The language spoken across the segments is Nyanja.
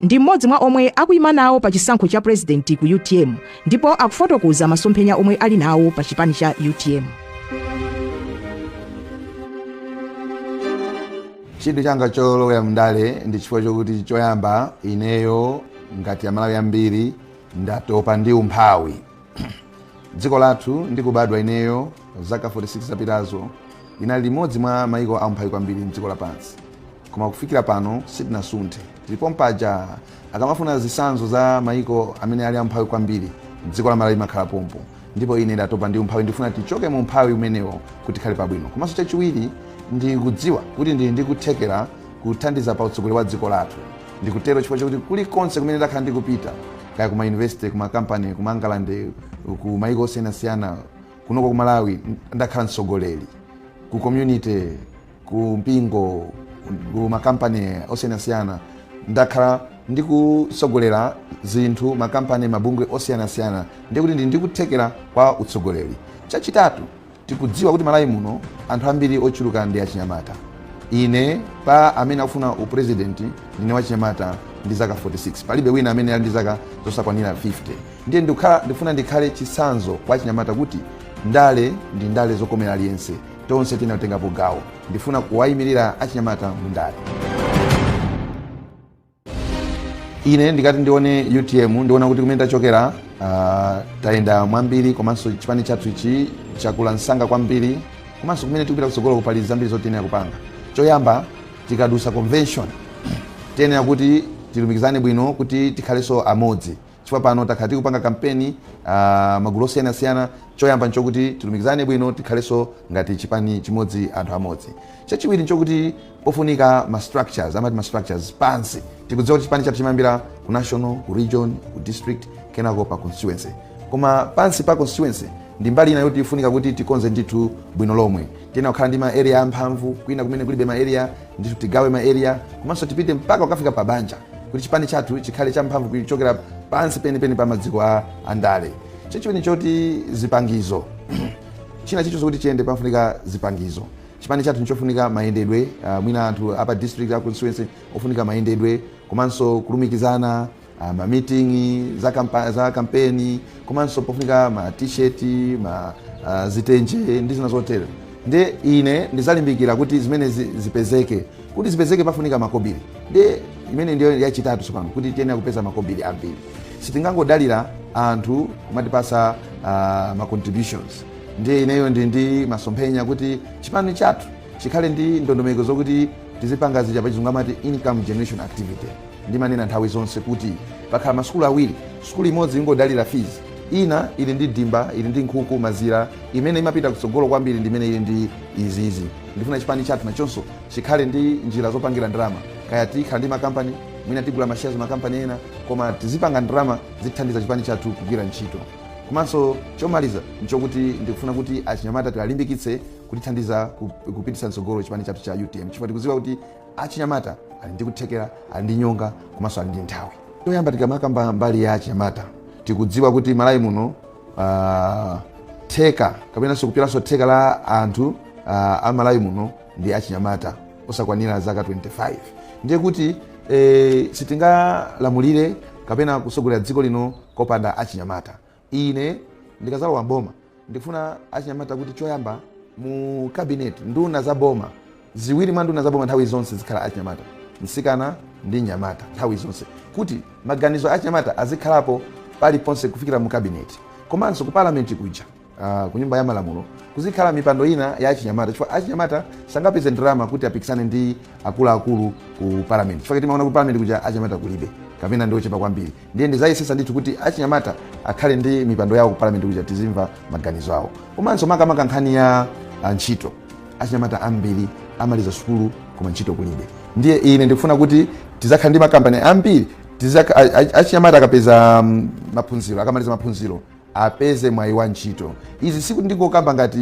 ndi mmodzi mwa omwe akuyima nawo pa chisankho cha purezidenti ku utm ndipo akufotokoza masomphenya omwe ali nawo pa chipani cha utm chidwi changa cholowera mndale ndi chifukwa chokuti choyamba ineyo ngati amalawi ambiri ndatopa ndi umphawi dziko lathu ndikubadwa ineyo zaka 46 zapitazo linali limodzi mwa maiko aumphawi kwambiri mdziko lapansi koma kufikira pano sitinasunthe. Tili pompaja, akamafuna zitsanzo za mayiko amene ali aumphawi kwambiri, dziko la Malawi limakhala pompo. Ndipo ine ndatopa ndi umphawi, ndifuna tichoke mu umphawi umenewo kuti tikhale pabwino. Komanso chachiwiri, ndikudziwa kuti ndili ndi kuthekera kuthandiza pa utsogoleri wa dziko lathu. Ndikutero chifukwa chakuti kulikonse kumene ndakhala ndikupita, kaya ku mayunivesite, ku makampani, ku mangalande, ku mayiko osiyanasiyana, kunoko ku Malawi ndakhala mtsogoleri, ku community, ku mpingo ku makampani osiyanasiyana ndakhala ndikutsogolera zinthu makampani mabungwe osiyanasiyana ndiye kuti ndili ndi kuthekera kwa utsogoleri chachitatu tikudziwa kuti malawi muno anthu ambiri ochuluka ndi achinyamata ine pa amene akufuna uprezidenti ndine wachinyamata ndi zaka 46 palibe wina amene ali ndi zaka zosakwanira 50 ndiye ndifuna ndikhale chitsanzo kwa achinyamata kuti ndale ndi ndale zokomera aliyense tonse tiyenera kutengapo gawo ndifuna kuwayimirira achinyamata mu ndale ine ndikati ndione utm ndiona kuti kumene tachokera ah, tayenda mwambiri komanso chipani chathu ichi chakula msanga kwambiri komanso kumene tikupita kutsogolo ku pali zambiri zoti tiyenera kupanga choyamba tikadutsa convention tiyenera kuti tilumikizane bwino kuti tikhalenso amodzi chifukwa pano takhala tikupanga kampeni uh, magulu osiyanasiyana choyamba nchokuti tilumikizane bwino tikhalenso ngati chipani chimodzi anthu amodzi chachiwiri nchokuti pofunika ma structures amati ma structures pansi tikudziwa kuti chipani chathu chimayambira ku national ku region ku district kenako pa constituency koma pansi pa constituency ndi mbali ina yoti ifunika kuti tikonze ndithu bwino lomwe tiyenera kukhala ndi ma area amphamvu kwina kumene kulibe ma area ndithu tigawe ma area komanso tipite mpaka kukafika pa banja kuti chipani chathu chikhale champhamvu kuchokera pansi penipeni pa maziko a ndale chachiwiri choti zipangizo china chilichonse kuti chiyende pamafunika zipangizo chipani chathu nchofunika mayendedwe uh, mwina anthu apa district a constituency ofunika mayendedwe komanso kulumikizana Ah, ma meeting za, kampa, za kampeni komanso pofunika ma t-shirt ma uh, zitenje ndi zina zotero nde ine ndizalimbikira kuti zimene zi- zipezeke kuti zipezeke pafunika makobiri nde imene ndiyo yachitatu tsopano kuti tiyenera kupeza makobiri ambiri sitingangodalira anthu kumatipatsa uh, ma contributions ndiye ineyo ndili ndi masomphenya kuti chipani chathu chikhale ndi ndondomeko zokuti tizipanga zija pachizungu amati income generation activity Ndimanena nthawi zonse kuti pakhala masukulu awiri, sukulu imodzi ingodalira fees, ina ili ndi dimba, ili ndi nkhuku, mazira, imene imapita kutsogolo kwambiri ndi imene ili ndi izizi. Ndifuna chipani chathu nachonso chikhale ndi njira zopangira ndalama, kaya tikhala ndi makampani, mwina tigula ma shares makampani ena, koma tizipanga ndalama zitithandiza chipani chathu kugwira ntchito. Komanso chomaliza nchokuti ndikufuna kuti achinyamata tiwalimbikitse kutithandiza kupititsa mtsogolo chipani chathu cha utm chifukwa tikudziwa kuti Achinyamata ali ndi kuthekera, ali ndi nyonga komanso ali ndi nthawi. Choyamba tikamakamba mbali ya achinyamata tikudziwa kuti Malawi muno ah, theka kapenanso kupyolanso theka la anthu ah, a Malawi muno ndi achinyamata osakwanira zaka 25 ndiye kuti eh, sitingalamulire kapena kusogolera dziko lino kopanda achinyamata Ine ndikazalowa m'boma ndikufuna achinyamata kuti choyamba mu cabinet nduna za boma ziwiri mwa nduna za boma nthawi zonse zizikhala achinyamata msikana ndi mnyamata nthawi zonse kuti maganizo achinyamata azikhalapo paliponse kufikira mu cabinet komanso ku parliament kuja uh, ku nyumba ya malamulo kuzikhala mipando ina ya achinyamata chifukwa achinyamata sangapeze ndalama kuti apikisane ndi akuluakulu ku parliament chifukwa timaona ku parliament kuja achinyamata kulibe kapena ndi ochepa kwambiri ndiye ndizayesesa ndithu kuti achinyamata akhale ndi mipando yawo ku parliament kuja tizimva maganizo awo komanso makamaka nkhani ya ah, ntchito achinyamata ambiri amaliza sukulu koma ntchito kulibe ndiye ine ndikufuna kuti tizakhala ndi makampani ambiri tizaka- a- a- achinyamata akapeza mm, maphunziro akamaliza maphunziro apeze mwayi wa ntchito. Izi sikuti ndingokamba ngati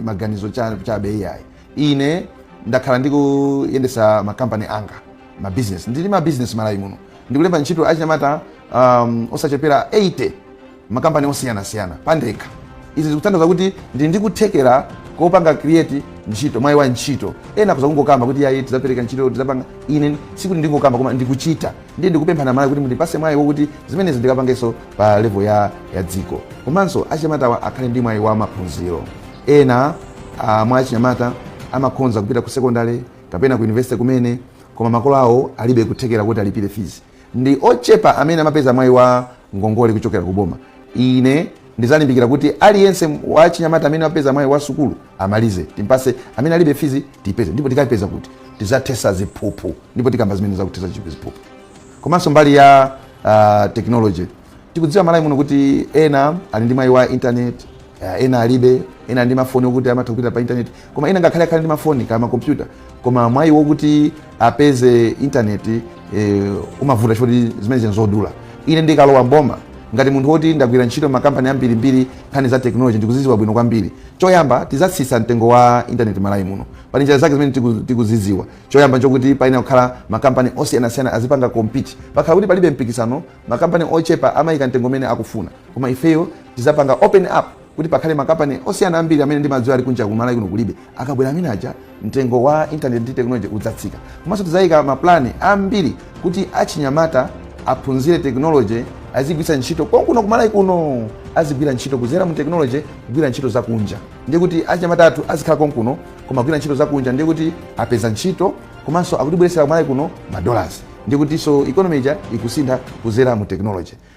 maganizo cha- chabe iyayi. Ine ndakhala ndikuyendesa makampani anga ma business ndili ndi ma business malawi muno ndikulemba ntchito achinyamata um, osachepera 80 makampani osiyanasiyana pandekha izi zikutanthauza kuti ndili ndikuthekera kopanga create ntchito mwayi wa ntchito ena akuza kungokamba kuti yayi tizapereka ntchito tizapanga ine sikuti ndingokamba koma ndikuchita ndiye ndikupempha a Malawi kuti mundipase mwayi wokuti zimenezi ndikapangenso pa level ya, ya dziko komanso achinyamatawa akhale ndi mwayi wa maphunziro ena ah, mwa achinyamata amakhonza kupita ku sekondale kapena ku university kumene koma makolo awo alibe kuthekera kuti alipire fees ndi ochepa amene amapeza mwayi wa ngongole kuchokera ku boma. Ine ndizalimbikira kuti aliyense wachinyamata amene wapeza mwayi wa sukulu amalize, timpase amene alibe fizi tipeze, ndipo tikapeza kuti tizathesa ziphuphu, ndipo tikamba zimene zakuthetsa ziphuphu komanso mbali ya uh, technology tikudziwa malawi muno kuti ena ali ndi mwayi wa internet uh, ena alibe ena ali ndi mafoni okuti amatha kupita pa internet koma ena ngakhale akhale ndi mafoni kaya makompyuta koma mwayi wokuti apeze intaneti e, umavuta choti zimenezi nzodula ine ndikalowa mboma ngati munthu woti ndagwira ntchito makampani ambirimbiri nkhani za teknoloji ndikuziziwa bwino kwambiri choyamba tizatsitsa mtengo wa intaneti malawi muno pali njira zake zimene tiku- tikuziziwa choyamba chokuti payenera kukhala makampani osiyanasiyana azipanga compete pakhala kuti palibe mpikisano makampani ochepa amayika mtengo umene akufuna koma ifeyo tizapanga open up kuti pakhale makampani osiyana ambiri amene ndimadziwa ali kunja kumalawi kuno kulibe akabwera amene aja mtengo wa internet ndi technology udzatsika komanso tidzayika maplani ambiri kuti achinyamata aphunzire technology azigwira ntchito konkuno kumalawi kuno azigwira ntchito kuzera mu technology kugwira ntchito zakunja ndiye kuti achinyamata athu azikhala konkuno koma kugwira ntchito zakunja ndiye kuti apeza ntchito komanso akutibweretsera kumalawi kuno madollars ndiye kutinso economy ija ikusintha kuzera mu technology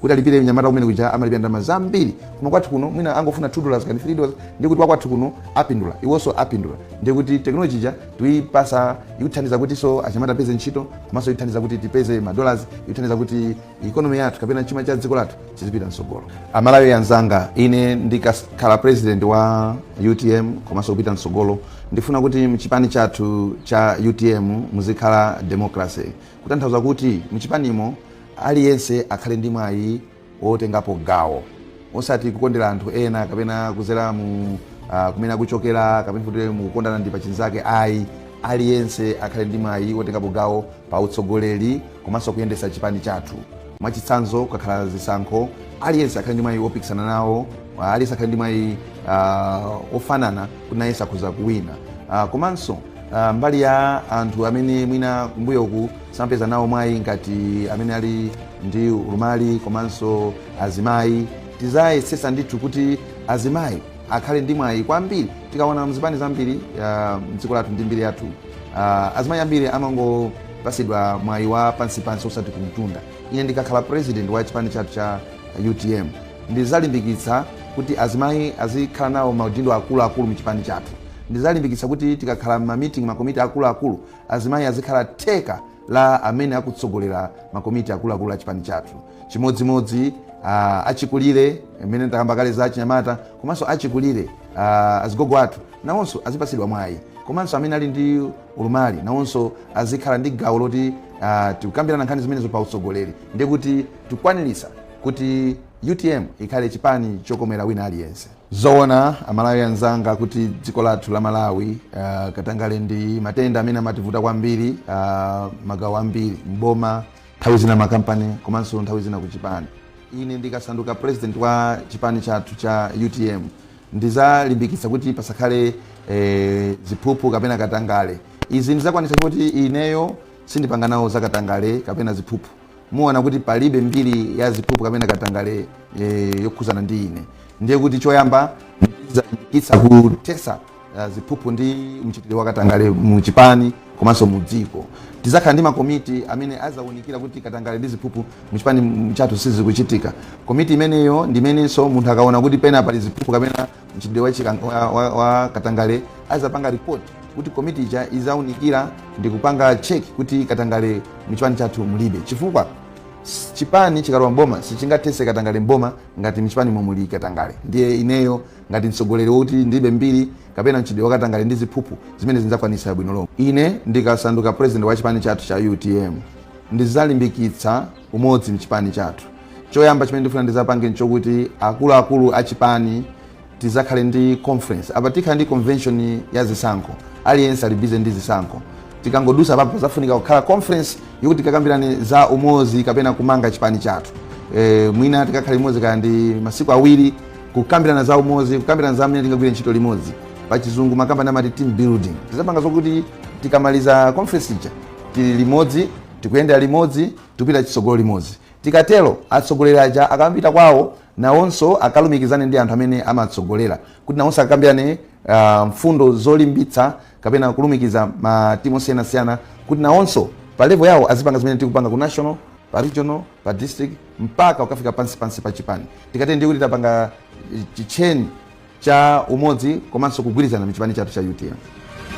kuti alipire mnyamata kunja kuja amalipira ndalama zambiri koma kwathu kuno mwina angofuna 2 dollars kaya 3 dollars ndiye kuti wakwathu kuno apindula iwonso apindula ndiye kuti teknoloji ija tuyipasa ikuthandiza kutinso achinyamata apeze ntchito komanso ikuthandiza kuti tipeze madollars ikuthandiza kuti ikonomi yathu kapena chuma cha dziko lathu chizipita mtsogolo amalawi anzanga ine ndikakhala president wa utm komanso kupita mtsogolo ndifuna kuti mchipani chathu cha utm muzikhala democracy kutanthauza kuti mchipanimo Aliyense akhale ndi mwayi wotengapo gawo osati kukondera anthu ena kapena kuzera mu ah, kumene akuchokera kapena kuti mukukondana ndi pachinzake ayi aliyense akhale ndi mwayi wotengapo gawo pa utsogoleri komanso kuyendetsa chipani chathu mwachitsanzo kukakhala zisankho aliyense akhale ndi mwayi wopikisana nawo ah, aliyense akhale ndi mwayi ah, ofanana kuti nayenso akhoza kuwina Ah, komanso Ah, mbali ya anthu amene mwina kumbuyoku samapeza nawo mwayi ngati amene ali ndi ulumali komanso azimayi tizayesesa ndithu kuti azimayi akhale ndi mwayi kwambiri tikaona mzipani zambiri ah, mdziko lathu ndi mbiri yathu ah, azimayi ambiri amangopasidwa mwayi wa pansipansi osati kumtunda ine ndikakhala president wa chipani chathu cha utm Ndizalimbikitsa kuti azimayi azikhala nawo maudindo akulu akulu mchipani chathu. Ndizalimbikitsa kuti tikakhala mma meeting ma komiti akulu akulu, azimayi azikhala theka la amene akutsogolera ma komiti akulu akulu a chipani chathu. Chimodzi modzi achikulire, mmene takamba kale za achinyamata komanso achikulire, azigogo athu nawonso azipatsidwa mwayi komanso amene ali ndi ulumali nawonso azikhala ndi gawo loti tikukambirana nkhani zimenezo pa utsogoleri. Ndiye kuti tikwanilitsa. kuti utm ikhale chipani chokomera wina aliyense zoona amalawi anzanga kuti dziko lathu la malawi uh, katangale ndi matenda amene amativuta kwambiri uh, magawo ambiri mboma nthawi zina makampani komanso nthawi zina kuchipani ine ndikasanduka president wa chipani chathu cha utm ndizalimbikitsa kuti pasakhale eh, ziphuphu kapena katangale izi ndizakwanitsa kuti ineyo sindipanga nawo zakatangale kapena ziphuphu muona kuti palibe mbiri ya ziphuphu kapena katangale e, yokhuzana ndi ine ndiye kuti choyamba ndizalimbikitsa kuthesa eh, ziphuphu ndi mchitidwe wa katangale mu chipani komanso mu dziko tizakhala ndi makomiti amene azaunikira kuti katangale ndi ziphuphu mu chipani chathu sizikuchitika komiti imeneyo ndi imenenso munthu akaona kuti pena pali ziphuphu kapena mchitidwe wa, chikang- wa, wa, wa katangale azapanga report kuti komiti ija izaunikira ndi kupanga check kuti katangale mchipani chathu mulibe chifukwa s- chipani chikalowa mboma sichingathese katangale mboma ngati mchipani momo muli katangale ndiye ineyo ngati mtsogoleri wokuti ndilibe mbiri kapena mchitidwe wakatangale ndi ziphuphu zimenezi ndzakwanisa bwino lomwe ine ndikasanduka president wa chipani chathu cha utm ndizalimbikitsa umodzi mchipani chathu. Choyamba chimene ndifuna ndizapange nchokuti akuluakulu a chipani tizakhale ndi conference. Apa tikhala ndi convention ya zisankho. Aliyense ali busy ndi zisankho. Tikangodusa papo pazafunika kukhala conference yokuti tikakambirane za umodzi kapena kumanga chipani chathu. E, mwina tikakhale limodzi kaya ndi masiku awiri kukambirana za umodzi, kukambirana za mmene tingagwire ntchito limodzi. Pa chizungu makampani amati team building. Tizapanga zokuti tikamaliza conference ija tili limodzi Tikuyendera limodzi, tikupita chitsogolo limodzi. Tikatero, atsogoleri aja akapita kwawo, nawonso akalumikizane ndi anthu amene amatsogolera kuti nawonso akakambirane mfundo zolimbitsa kapena kulumikiza ma timu osiyanasiyana kuti nawonso pa level yawo azipanga zimene tikupanga ku national, pa regional, pa district mpaka kukafika pansi pansi pa chipani. Tikatero ndiye kuti tapanga chi chain cha umodzi komanso kugwirizana m'chipani chathu cha utm.